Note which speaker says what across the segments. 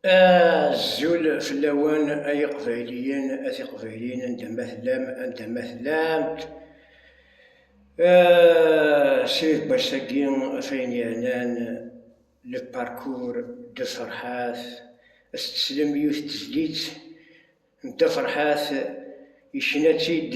Speaker 1: Azul fell-awen ay iqbayliyen, a tiqbayliyin anda ma tellam, anda ma tellamt. Srid Bassagi, ɣef ayen yernan le parcours de Ferhat, ad s-teslem yiwet n tezlit n Dda Ferhat, yecna-tt-id.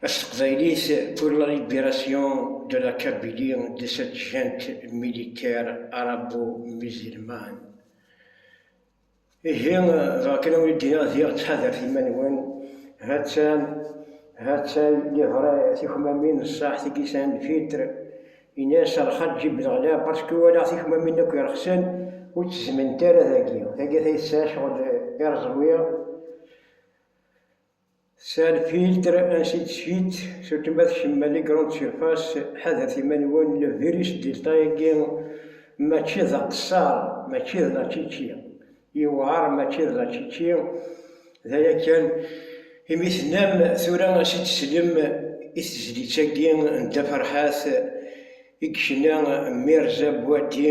Speaker 1: S teqbaylit, Pour la libération de la Kabylie de cette junte militaire arabo-musulmane. Ihi, dɣa kan awi d-iniɣ diɣ ttḥadaret iman-nwen, ha-tt-an, ha-tt-ay livrɛ tikmamin ṣṣaḥ tigi san filtre, ini-as ar Xaǧi Belɣla parce que walaɣ tikmamin akk irexsen ur ttezment ara dagi, tagi tay tesɛa ccɣel ireẓwi, Sal-filtre ainsi de suite surtout ma tkemmel i grande surface ḥadret iman-nwen le virus delta agi mačči d aqessar mačči d la čiči yewɛer mačči d la čiči d aya kan imi tennam tura ad s-id-teslem i tezlit agi n dda ferḥat i yecna Mirza Buati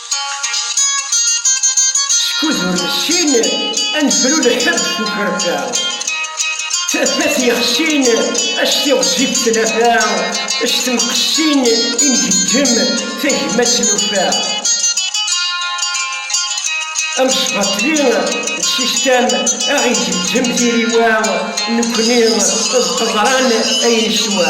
Speaker 1: Skud ur nessin ad nefru lḥeb s ukerfa, tafat yexsin acti ɣezzif tnafa, s temqessin i ngeǧǧem tagmat nufa. Amesbaṭli d sistam aɣ igeǧǧem tiriwa, nekni d qeḍran ay neswa.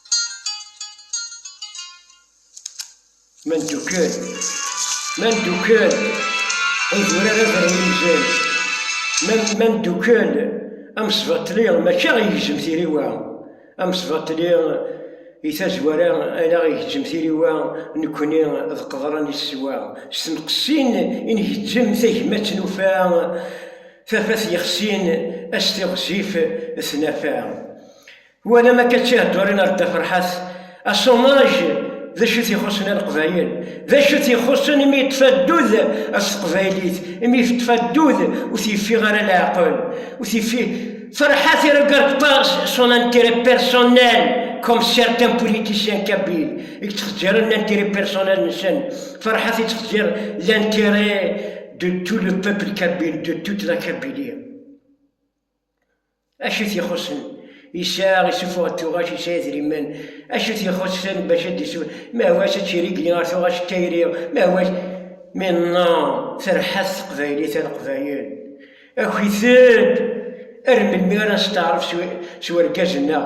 Speaker 1: Ma ndukkel, ma ndukkel, idurar ad rren imzan. Ma, ma ndukkel, amesbaṭli mačči aɣ igezzem tiriwa, amesbaṭli i tazwara ad aɣ igezzem tiriwa nekkni d qeḍran i teswa, s tenqessin i ngezzem tagmat nufa, tafat yexsin, as tiɣzif tnafa. Walam akka ttiheddurin ar Dda Ferḥat, asumaj d acu t-ixussen a Leqbayel, d acu t-ixussen imi yeṭṭef addud s teqbaylit, imi yeṭṭef addud ur t-yeffiɣ ara leɛqel, ur t-yeffiɣ Ferḥat il regarde pas son intérêt personnel comme certains politiciens kabyles i yettxeǧǧiren l'intérêt personnel nsen, Ferḥat yettxeǧǧir l'intérêt de tout le peuple kabyle, de toute la Kabylie. Acu i t-ixuṣṣen? Yesɛa isufeɣ-d tuɣac, yesɛa idrimen. Acu i t-ixuṣṣen bac ad d-isufeɣ? Mahwac ad tt-irigli ɣer tuɣac d tayri, mahwac. Mi nna terḥa-t teqbaylit a leqbayel, aki-ten-d! Ar melmi ara nesteɛref s urgaz-nneɣ?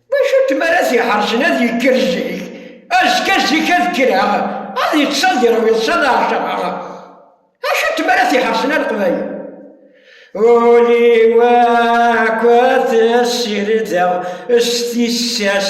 Speaker 1: D acu-t mi ara t-iḥercen ad yekker zik, azekka zik ad kkreɣ, ad yeṭṭes ad iṛwu iḍes ad aɣ-caɣeɣ? D acu-t mi ara t-iḥercen a Leqbayel? Ul-iw akk ad t-ssirdeɣ s tissas.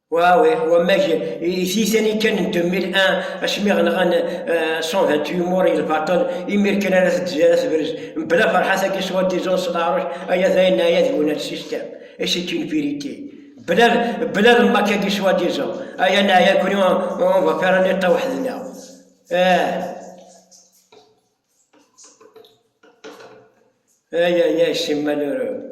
Speaker 1: Wawe, wamek i tizani kan n 2001 asmi ɣenɣan 128 eh, mur i lbaṭel imir kan ara tedzi ara tebrez mebla ferḥat-agi s wadizun s leɛruc aya d ayen aya d wuna l système et c'est une vérité bla bla lmak-agi s wadizun aya neɛya kuni on va faire un état weḥd-neɣ aya ya c'est malheureux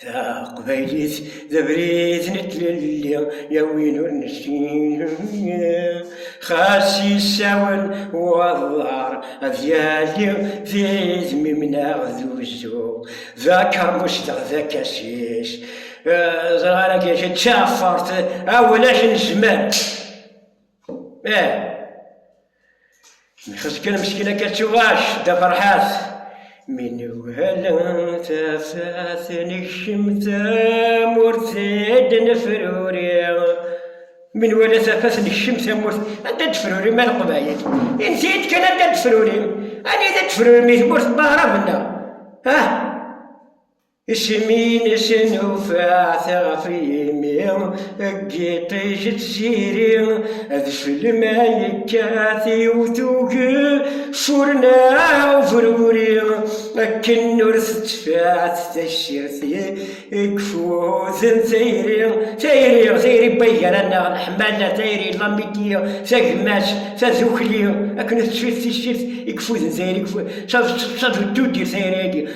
Speaker 1: Taqbaylit d abrid n tlelli yawin ur nessin Xas yessawen waḍar ad yali d idmimneɣ d uzzu D akermus deɣ d akasis Ẓran agi d taɛfart awlak n zzman Eh Nxes kan meskin akka ttuɣac d aferḥas Mi nugal tafat nekcem tamurt id nefruri Mi nwala tafat nekcem tamurt anda d-fruri ma leqbayel Insi-d kan anda d-fruri Anida d-fruri mi tmurt n Bahrabenna Ah! Isem-in isem ufaɛ tiɣef yimi Deg iṭij d tziri d celma yekkat Yiwet ugel curna ubruri Akken ur tettfaɛt tassirt i ifuden Tayri, tayri, tayri n wayyur Anaɣ n ḥmala, tayri n lamiti Tagmatt, tadukli Akken ur tettfaɛt tassirt i ifuden Tayri, d tadudirt tayri-agi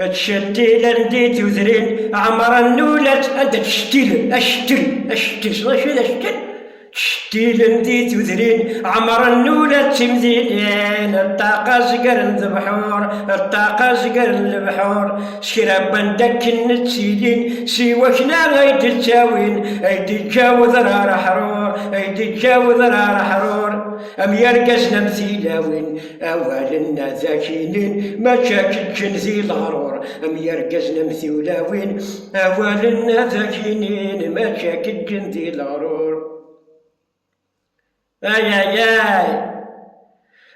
Speaker 1: Ttcettil anda i d-udrin ɛemṛen n ulac, anda ttcettilen, acettel, acettel, tessneḍ acu d acettel? Ttcettil anda i d-udrin ɛemṛen n ulac d timdinin, ṭṭaq azger n lebḥur, ṭṭaq azger n lebḥur, s kra wwanda akken ttilin, s i wakna ay d-ttawin, ay d-iǧǧa wedrar aḥrur, ay d-iǧǧa wedrar aḥrur, am yirgazen am tilawin. Awalen dakinin mačči ad k-ǧǧen di leɣrur, am yirgazen am tiwlawin. Awalen dakinin mačči ad k-ǧǧen di leɣrur. Ayayay!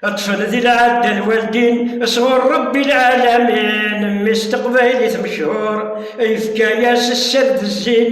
Speaker 1: Ṭṭfen di lɛadda lwaldin sɣur Ṛebbi lɛalamin, mmi-s n teqbaylit mechur, yefka-yas sser d zzin.